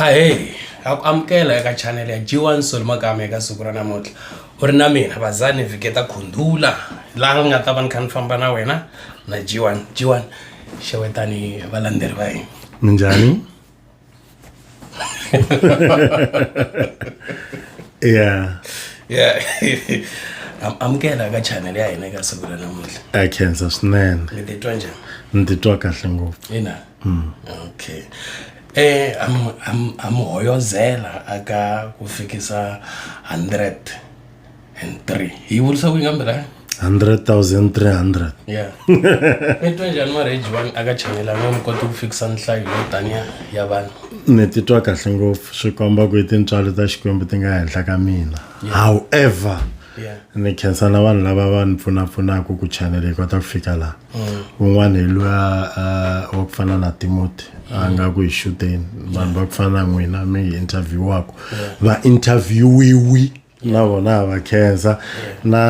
ahey a ku amukela eka chanele ya g1 sol magama eka siku ra namuntlha u ri na mina vazani viketa khundula laha nga ta va ni kha ni famba na wena na g1 g1 xewetani valandzeri va yini minjhani yeah yeah amukela ka channel ya hina eka siku ra namuntlha a khensa swinene mi titwa njhani ni titwa kahle ngopfu ina mm. okay eh am am am hoyozela aka ku fikisa 100 and 3 hi vurisa ku ingambira 100300 ya mi twa njhani marriage one a ka chayelanga mi koti ku fikisa nhlayo yo taniya ya vanhu ni titwa kahle ngopfu swi komba ku i tintswalo ta xikwembu ti nga henhla ka mina however ya ni khensa na vanhu lava va ni pfunapfunaka ku chanele yi kota ku fika laha un'wana hi luya wa ku fana na timoti a nga ku hi xuteni vanhu va ku fana na n'wina mi hi interviewaku va interviewiwi na vona ha va khensa na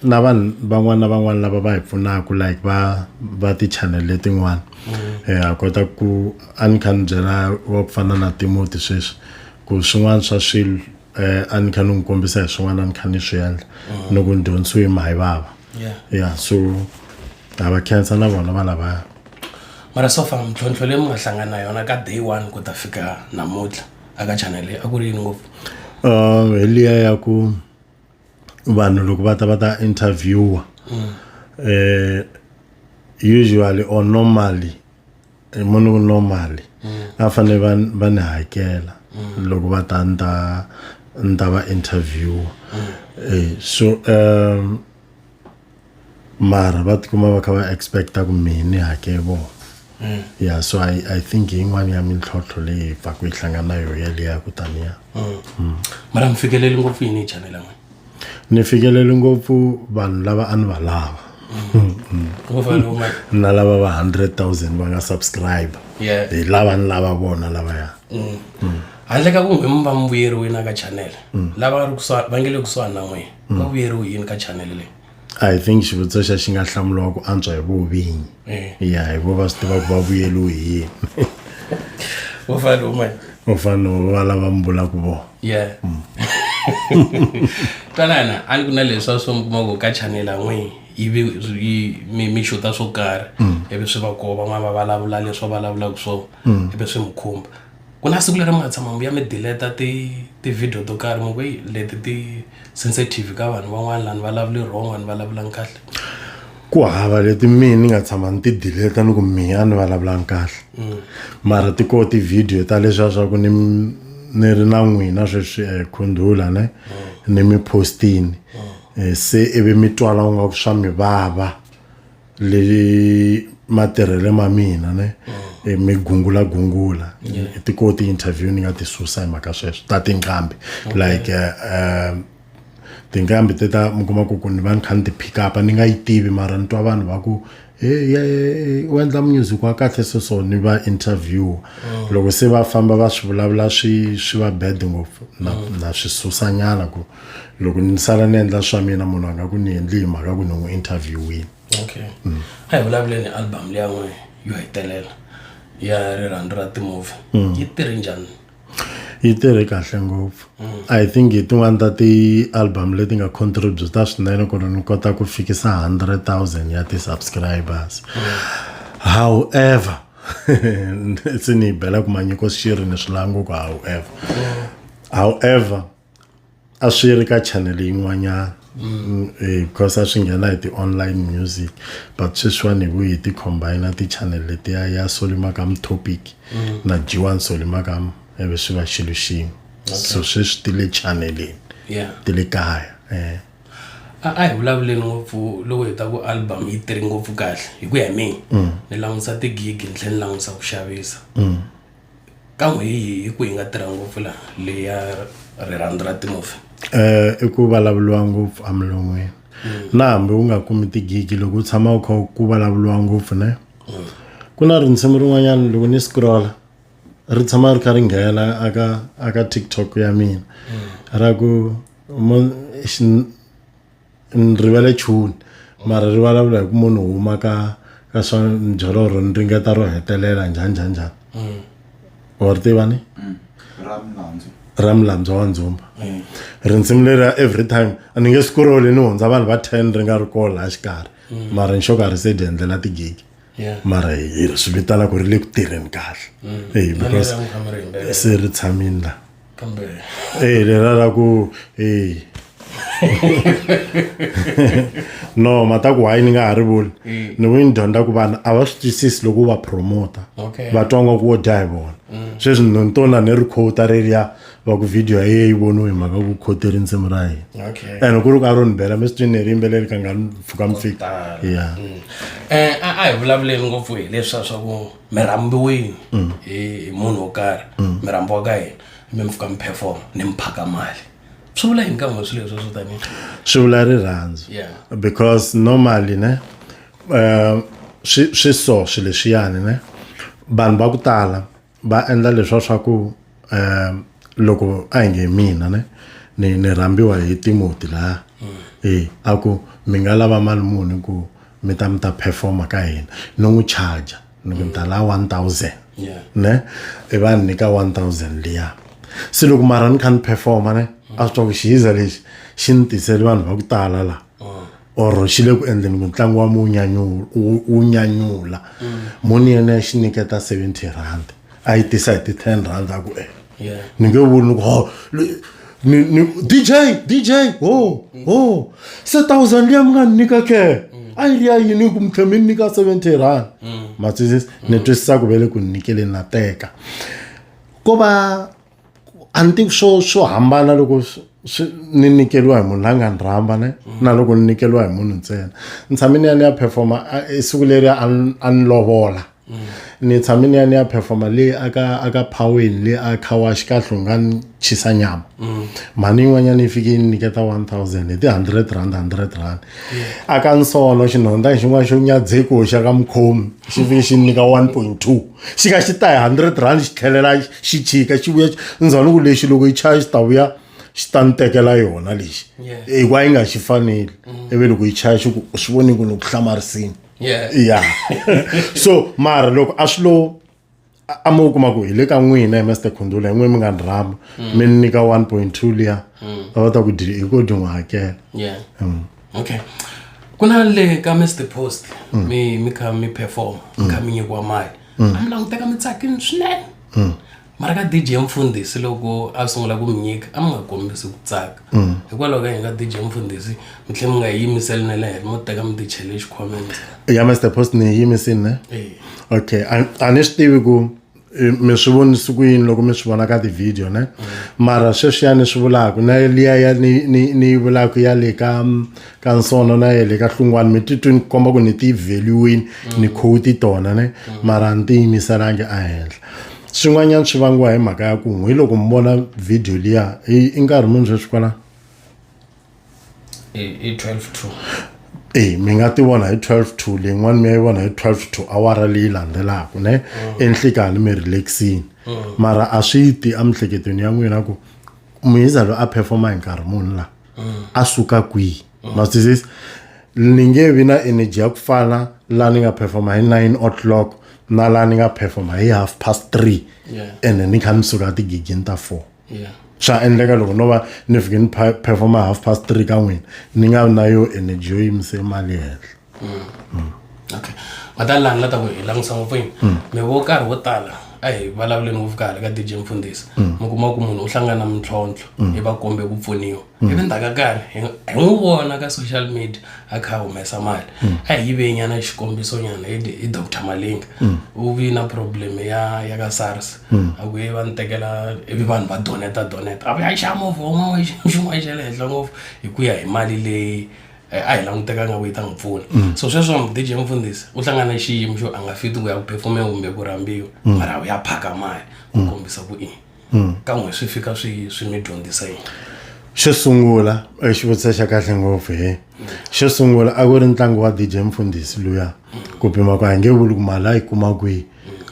na vanhu van'wana na van'wana lava va hi pfunaka like va va ti-channel letin'wana um ha kota ku a ni kha ni byela wa ku fana na timoti sweswi ku swin'wana swa swilo eh, a ni kha ni n'wi kombisa hi swin'wana a ni kha ni swi endla mm. ni ku ni dyondzisiwe hi mahi vava ya so a va khensa na vona va lavaya mara so far mintlhontlho leyi mi nga hlangana na yona ka day one ku ta fika namuntlha aka chanele a ku ri yini ngopfu um hi liya ya ku vanhu loko va ta va ta interviewer um usually or normally hi munhu ku no mali a va fanele va va ni hakela loko va ta ni ta ni ta va interview eh, so um mara va tikuma va kha va expecta ku mehe ni hakele vona Mm. ya so i, I think yin'wana ya mintlhontlho leyi pfaku yi hlangana na yo yaleya ku taniya mm. mara mi fikeleli ngopfu yini hi chanela n'wina ni fikeleli ngopfu vanhu lava a ni va lava na lava va 100000 va nga subscribe hi lava ni lava vona lavaya mm. mm. handle ka kumbe mi va mi vuyeriwini aka channel mm. lava va nge le kusuhani na n'wina va vuyeriwi yini ka channel leyi i think xivutiso xa xi nga hlamuriwa ku antswa hi vovinyi eh. ya hi vo va swi tiva ku va vuyeliwe hi yini u fanele uma u fanele va lava mi vulaka vona ya mm. twanana a ni ku na leswi a swi mi kuma ku ka chanela n'wini ivi mi mi xuta swo karhi mm. ivi swi va koho van'wana va vulavula leswi va vulavulaka swona mm. ivi swi mi khumba ku na siku leri mi nga tshama mi vuya mi delete ti ti-video to karhi mi ku heyi leti ti sensitive ka vanhu van'wana lani vulavuli wrong vanhu vulavulani kahle ku hava leti mina ni nga tshama ni ti delete ni ku mina ni vulavulani kahle mm. mara ti koho ti-video ta leswiya swa ku ni ni ri na n'wina sweswi um khundhula ne mm. ni mi postini mm. eh, se ivi mi twala u nga ku swa mi vava leyi matirhelo ma mina ne e mi gungula gungula e ti ko ti interview ni nga ti susa hi mhaka sweswo ta tinqambi like eh, um tinqambi te ta mi kuma ku ku ni va ni kha ni ti pick up ni nga yi tivi mara ni twa vanhu va ku "Hey, yeah, yeah, yeah, u endla music wa kahle so so ni va interview loko se va famba va swi vulavula swi swi va bad ngopfu na na swi susanyana ku loko ni sala ni endla swa mina munhu a nga ku ni endli hi mhaka ku ni n'wi interviewini okay mm. a hi vulavuleni album leya n'we yo hetelela ya rirhandzu ra timovhi mm. yi tirhi njhani yi tirhe kahle ngopfu mm. i think hi tin'wani ta ti-album leti nga contributa swinene ku ri ni kota ku fikisa 100 000 ya ti-subscribers however se ni yi bela ku manyiko xiri ni swilanguku however however a swi ri ka channel yin'wanyana mm, eh, because a swi nghena hi ti-online music but sweswiwani hi vuyi hi ti-combina ti-channel letiya ya solimakam topic mm. na jiwan solimakam eve swi va xilo xin'we so sweswi ti le channelini ti le kaya um a hi vulavuleni ngopfu loko hi ta ku album yi tiri ngopfu kahle hi ku ya hi mina mm. ni langutisa tigigi ni tlhela ni langutisa ku xavisa mm. ka n'wi hi hi ku hi nga tirha ngopfu laha leya rirhandzu ra timovha eh i ku vulavuriwa ngopfu emilon'wini na hambi u nga kumi tigigi loko u tshama u kha ku vulavuriwa ngopfu ne ku na rinsimu rin'wanyana loko ni scrolla ri tshama ri kha ri nghena aka aka tiktok ya mina ra ku ni rivele chuni mara ri vulavula hi ku munhu huma ka ka swa byelo ro ni ringeta ro hetelela njhani njhani njhani mm. wa ri tiva ni mm. ra milandzu wa ndzumba mm. rinsimu leri ya every time a ni nge swi kuroli ni hundza vanhu va ten ri nga ri kola a xikarhi mara ni xo ka ri se dyi endlela tigigi Yeah. mara hi- hi- swi vitana ku ri le ku tirheni kahle eyi Na because lera mukamareni, lera. se ri tshamini la kambe eyi lera ra ku eyi no mata ku hayi ni nga ha ri vuli Mm. ni vuyi ni dyondza ku vanhu a va swi twisisi loko u va promota Okay. va twa nga ku wo dya hi vona sweswi ni tona ni ri khota reriya va ku video ya yeyi voniwe hi mhaka ku khote rindzimi ra hina okay ene ku ri ku a ro ni bela mi swi twini ri yimbeleli ka nga ni pfuka mi fika ya um a a hi vulavuleli ngopfu hi leswa swa ku mi rhambiwini Mm. hi hi munhu wo karhi mi rhambiwa ka yena mi mi fika mi performa ni mi phaka mali swi vula yini ka n'we swilo leswo swo tanihi swi vula rirhandzu Yeah. because normally ne um swi swi so swi leswiyani ne vanhu va ku tala va endla leswa swa ku um loko a hi nge mina ne ni ni rhambiwa hi timoti laha e a ku mi nga lava mali muni ku mi ta mi ta performa ka hina ni n'wi charger ni ku ni ta lava one thousand ne i va ni nyika one thousand liya se loko mara ni kha ni performa ne a swi twa ku xihiza lexi xi ni tisele vanhu va ku tala laha or xi le ku endleni mutlangi wa mu wu nyanyula moni yena ya xi nyiketa seventy rand a yi tisa hi ti-ten rand a ku e ni nge vuli ni ku ho ni ni dj dj ho ho se thousand liya mi nga ni nyika ke a yi ri ya yini ku mi tlhe mi ni nyika seventy rand ma twisisa ni twisisa ku ve le ku ni nyikeleni na teka ko va a ni tivi swo swo hambana loko swi ni nikeriwa hi munhu la nga ni rhamba ne na loko ni nikeriwa hi munhu ntsena ni tshame ni ya ni ya performa i siku leri a ni lovola ni tshame ni ya ni ya performa le aka aka phaweni le a khawax ka hlonga ni chisa nyama mm. mhani yin'wanyana yi fike yi ni nyiketa 1000 hi ti-hundred rand hundred rand aka nsono xinhonda xin'wana xo nyadzeko xa ka mukhomi xi fike xi ni nyika 1.2 xi ka xi ta hi hundred rand xi tlhelela xi chika xi vuya ndzhwani ku lexi loko yi chaya xi ta vuya xi ta ni tekela yona lexi hikuva yi nga xi faneli mm. ivi loko yi chaya xi ku u swi voni ku ni ku hlamarisini ya so mara loko a swi lo a mi wu kuma ku hi le ka n'wina hi master khundula hi n'wini mi nga ni rhamba mm. mi ni nyika one point two liya mm. a va ta ku dyi hi ko dyi n'wi hakela okay ku na le ka mr post mm. mi mi kha mi perform mi kha mm. mi nyikiwa mali mm. a mi languteka mi tsakini swinene mara ka dj mfundhisi loko a sungula ku mi nyika a mi nga kombisi ku tsaka hikwalaho ka yini ka dj mfundhisi mi tlhe mi nga yimiseli na le heri mo teka mi tichele xikhwameni ya mr post ni yi yimisini ne okay a ni swi tivi ku mi swi vonisi ku yini loko mi swi vona ka tivhidiyo ne mara sweswiya ni swi vulaka na liya ya ni ni ni yi vulaka ya le ka ka nsono na ya le ka hlungwani mi titwi ni komba ku ni ti value-ini ni quote tona ne mara ni ti yimiselangi ehenhla swin'wanyana swi vangiwa hi mhaka ya ku hi loko mi vona vhidiyo liya i nkarhi muni sweswi kwala hi 12 to e mi nga ti vona hi 12 to leyin'wana mi ya yi vona hi 12 to awara leyi landzelaka ne mm. enhlikani mi relaxini mm. mara a swi ti emihleketweni ya n'wina ku muhiza loyi a performa hi nkarhi munhu laha mm. a suka kwihi masizisi ni nge vi na energy ya ku fana laha ni nga performa hi 9 o'clock na laha ni nga performa hi half past three ene ni kha ni suka tigigini ta four yeah swa endleka loko no va ni fike ni performa half past three ka n'wina ni nga vi na yo energy yo yimise mali henhla mm. mm. okay vatalani la ta ku hi langutisa ngopfu yini mm. mi vo karhi wo tala a hi vulavuleni ngopfu kahle ka dj mfundhisi mi kuma ku munhu u hlangana na mintlhontlho hi va kombe ku pfuniwa hmm. ivi ndzhaku ka nkarhi hi n'wi vona ka social media a kha a humesa mali hmm. a hi yive nyana xikombiso nyana hi doctor malinga hmm. u vi na problem ya ya ka sars a ku ye va ni tekela ivi vanhu va doneta doneta a va ya xa movha wun'wana xin'wana xa le henhla ngopfu hi ku ya hi mali leyi Eh, a hi langutekanga ku yi ta n'wi pfuna mm. so sweswo dj mfundhisi u hlangana xiyimo xo a nga fiti ku ya ku perfume kumbe ku rhambiwa mm. mara u ya phaka mali ku mm. kombisa ku ini hmm. kan'we swi fika swi swi mi dyondzisa yini xo sungula eh, xivutiso xa kahle ngopfu he eh. xo sungula a ku ri ntlangu wa dj mfundhisi luya ku pima ku a hi nge vuli ku mali a yi kuma kwihi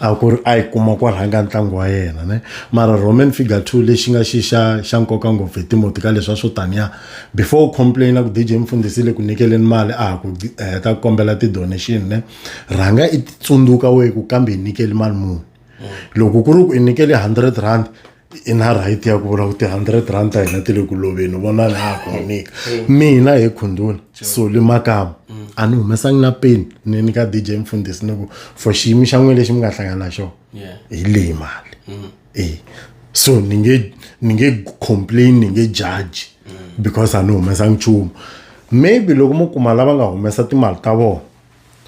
a ku ri a yi kuma ku rhanga ntlangu wa yena ne mara roman figure two lexi nga xi xa xa nkoka ngopfu hi timoti ka leswa swo taniya before u complaina ku dj mfundhisi le ku nyikeleni mali a ha ku heta eh, ku kombela ti-donation ne rhanga i tsundzuka wehe ku kambe hi nyikeli mali muni loko ku ri ku i nyikele hundred rand i na right ya ku vula ku ti-hundred rand ta hina ti le ku loveni vona na ha ku nyika mina hi khundula soli makama mm. a ni humesangi na peni ni nyika d j mfundhisi ni ku for xiyimi xa n'wina lexi mi nga hlangana na xona hi leyi mali mm. e so ni nge ni nge complain ni nge judge mm. because a ni humesangi nchumu maybe loko mo kuma lava nga humesa timali ta vona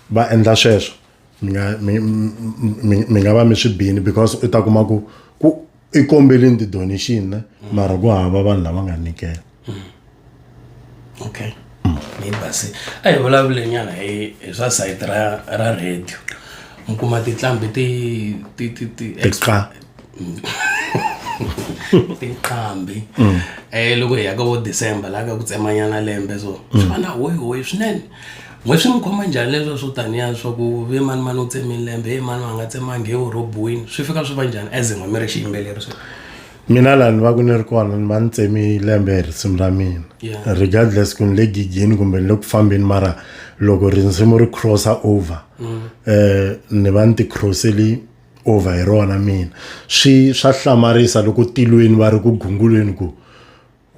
va endla sweswo mi nga mi mi mi nga va mi swi bini because u ta kuma ku ku i kombelini ti-donation ne mara ku hava vanhu lava nga nyikela okay yi basi a hi vulavulenyana hi hi swa sayiti ra ra radio mi kuma titlambi ti ti ti ti tiqa tinqambi um loko hi ya ka vo december laha ka ku tsemanyana lembe so swi va na hoyi hoyi swinene Why swi n'wi khoma njhani leswiya swo taniya swa ku ve mani mani u tseme lembe he mani a nga tsemangi he u rhobiwini swi fika swi va njhani as n'we mi ri xiyimbeleri swi mina laha ni va ku ni ri kona ni va ni tsemi lembe hi risimu ra mina Yeah. regardless ku ni le gigini kumbe ni le ku fambeni mara loko risimu ri crossa over eh ni va ni ti crosseli over hi rona mina swi swa hlamarisa loko tilweni va ri ku gungulweni ku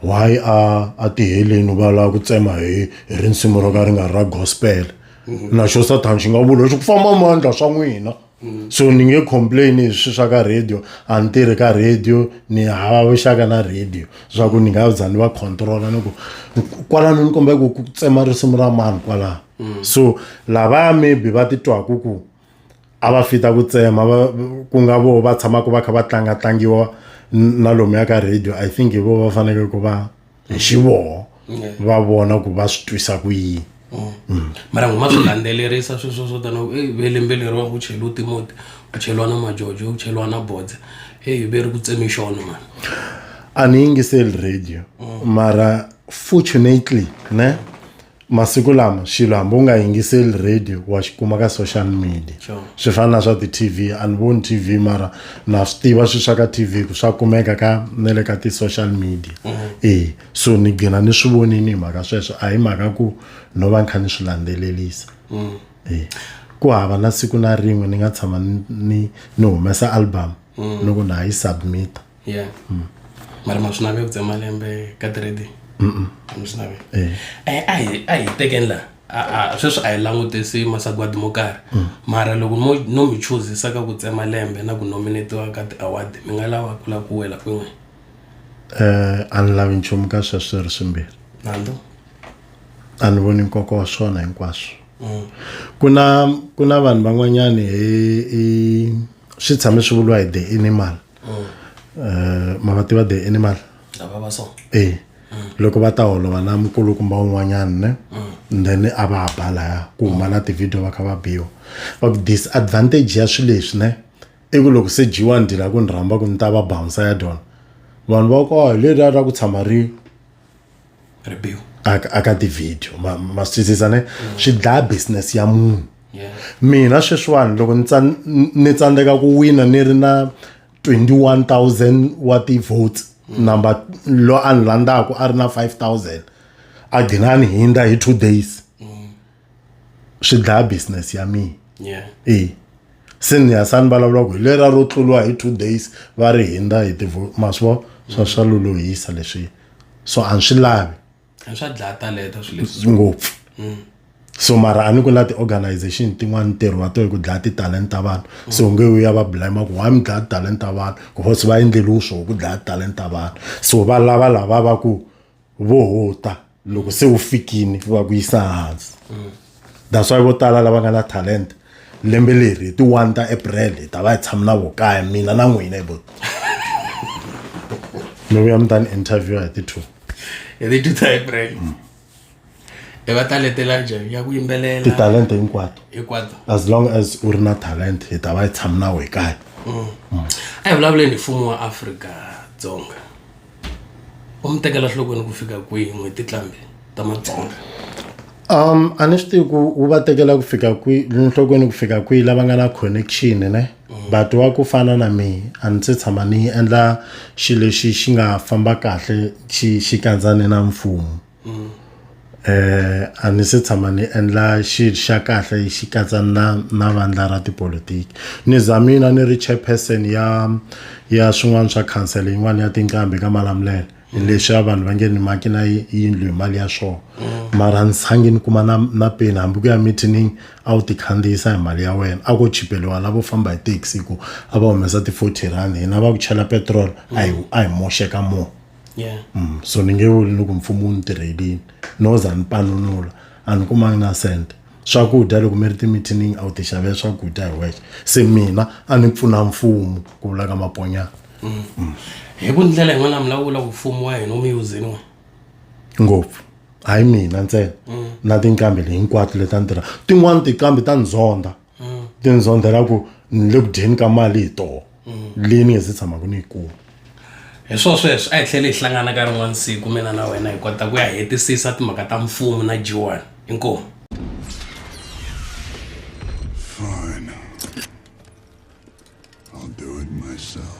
why a a tiheleni va lava ku tsema hi hi rinsimu ro ka ri nga ri ra gospel mhm. na xo sathana xi nga vula xi ku famba mandla swa n'wina mhm. so ni nge complain hi swi swa ka radio a ni tirhi ka radio ni hava vuxaka na radio swa ku ni nga za ni va controla ni ku kwalano ni kombeka ku tsema risimu ra mani kwalano mhm. so lavaya maybe va titwaku ku a va fita ku tsema va ku nga vo va tshamaka va kha va tlanga tlangiwa na lomuya ka radio i think hi vo va fanekele ku va hi xivoho va vona ku va swi twisa ku yini mm. mara n'wi ma swi landzelerisa swi swo swo tana ve lembe leriwa ku cheliwa timoti ku cheliwa na majojo ku cheliwa na bodze eyi ve ri ku tsemi xona mani a ni yingiseli radio mm. mara fortunately ne masiku lama xilo hambi u nga yingiseli radio wa xi kuma ka social media sure. swi fana na swa ti-tv a ni voni tv mara na swi tiva swi swa ka tv ku swa kumeka ka na le ka ti-social media mm -hmm. e so ni gina ni swi vonini hi mhaka sweswo a hi mhaka ku no va ni kha ni swi landzelelisa mm. e ku hava na siku na rin'we ni nga tshama ni ni humesa album mm. loko na ha yi submita yeah mara ma swi nave ku tsema lembe ka trade mi swi nave Eh, a hi a hi tekeni laha A- a- sweswi a hi langutisi masagwadi mo karhi mara loko no no mi chuzisa ka ku tsema lembe na ku nominatiwa ka ti-award mi nga lava ku lava ku wela kwin'we Eh, a ni lavi nchumu ka sweswo swi ri swimbirhi nandzu a ni voni nkoka wa swona hinkwaswo ku na ku na vanhu van'wanyani hi hi swi tshame swi vuriwa hi the animal mm. eh, ma va tiva the animal e loko va ta holova na mukulukumba un'wanyana ne mm. then a va ba laya ku huma na tivhidiyo va kha va biwa va ku disadvantage ya swilo leswi ne i ku loko se dyiwa ni dyila ku ni rhamba ku ni ta va bounsa ya dyona vanhu va ku a hi leriya ra ku tshama ri ribiwa aka ti-video ma ma swi twisisa ne mm. swi dlaya business ya munhu mina sweswiwani loko ni ni tsandzeka ku wina ni ri na 21000 wa ti-votes mm. number lo a ni landzaka a ri na 5000 a ghinani hindza hi two days mm. swi dlaya business ya mina yeah. e se ni ya sani vulavula ku hi lera ro tluriwa hi two days va ri hindza hi tivo ma swi vo swa swa lolohisa leswi so a ni swi lavi swa dlaya talenta swi leswi ngopfu mm. so mara a ni ku na ti-organization tin'wana ntirho wa to hi ku dlaya ti-talent ta vanhu mm. so nge u ya va blima ku why mi dlaya ti-talent ta vanhu because va endleliwe swo ku dlaya ti-talent ta vanhu so va lava lava va ku vo huta loko se wu fikini va ku yisa hansi that's why vo tala lava nga na talenta lembe leri hi ti-one ta april hi ta va hi tshama na vo kaya mina na n'wina hi vo mi vuya mi ta ni interviewa hi ti-two hi leti ta april i va taletela njhani ya ku yimbelela titalenta hinkwato hinkwato as long as u ri na talent hi ta va hi tshama na we kaya a hi vulavuleni hi mfumo wa afrika dzonga u mi tekela nhlokweni ku fika kwihi n'hweti tlambi ta matsonga um a ni swi tivi ku wu va tekela ku fika kwihi nhlokweni ku fika kwihi lava nga na connection ne mm. but wa ku fana na mi a ni se tshama ni endla xilo lexi xi nga famba kahle xi xi kandzane na mfumo mm. eh a ni se tshama ni endla xi xa kahle xi katsa na na vandla ra tipolitiki ni zamina ni ri chairperson ya ya swin'wana swa council yin'wana ya tinqambi ka malamulele leswi a vanhu va nge ni maki na yindlu hi mali ya swona mm. mara ni sangi ni kuma na na peni hambi ku ya meeting a wu ti khandziyisa hi mali ya wena a ko chipeliwa lavo famba hi taxi ku a va humesa ti-forty rand hina va ku chela petrol a hi a hi moxeka mo yeah. mm, so ni nge vuli loko mfumo wu ni tirhelini no za ni panunula a ni kumangi na cent swakudya loko mi ri timithiningi a wu tixavela swakudya hi wexe se mina a ni pfuna mfumo ku vula ka maponyana mm. mm. hi ku ndlela yin'wana mi lawula ku mfumo wa hina wu mi yuzini wa ngopfu hayi mina ntsena mm. na tinkambi le hinkwato leti a ni tirha tin'wani tikambi ta ni zonda mm. then zondzela ku ni le ku dyeni ka mali hi toho mm. leyi ni nge se tshamaka ni yi kuma hi swo sweswo a hi tlhele hi hlangana ka rin'wana siku mina na wena hi kota ku ya hetisisa timhaka ta mfumo na jiwani inkomu Fine. I'll do it myself.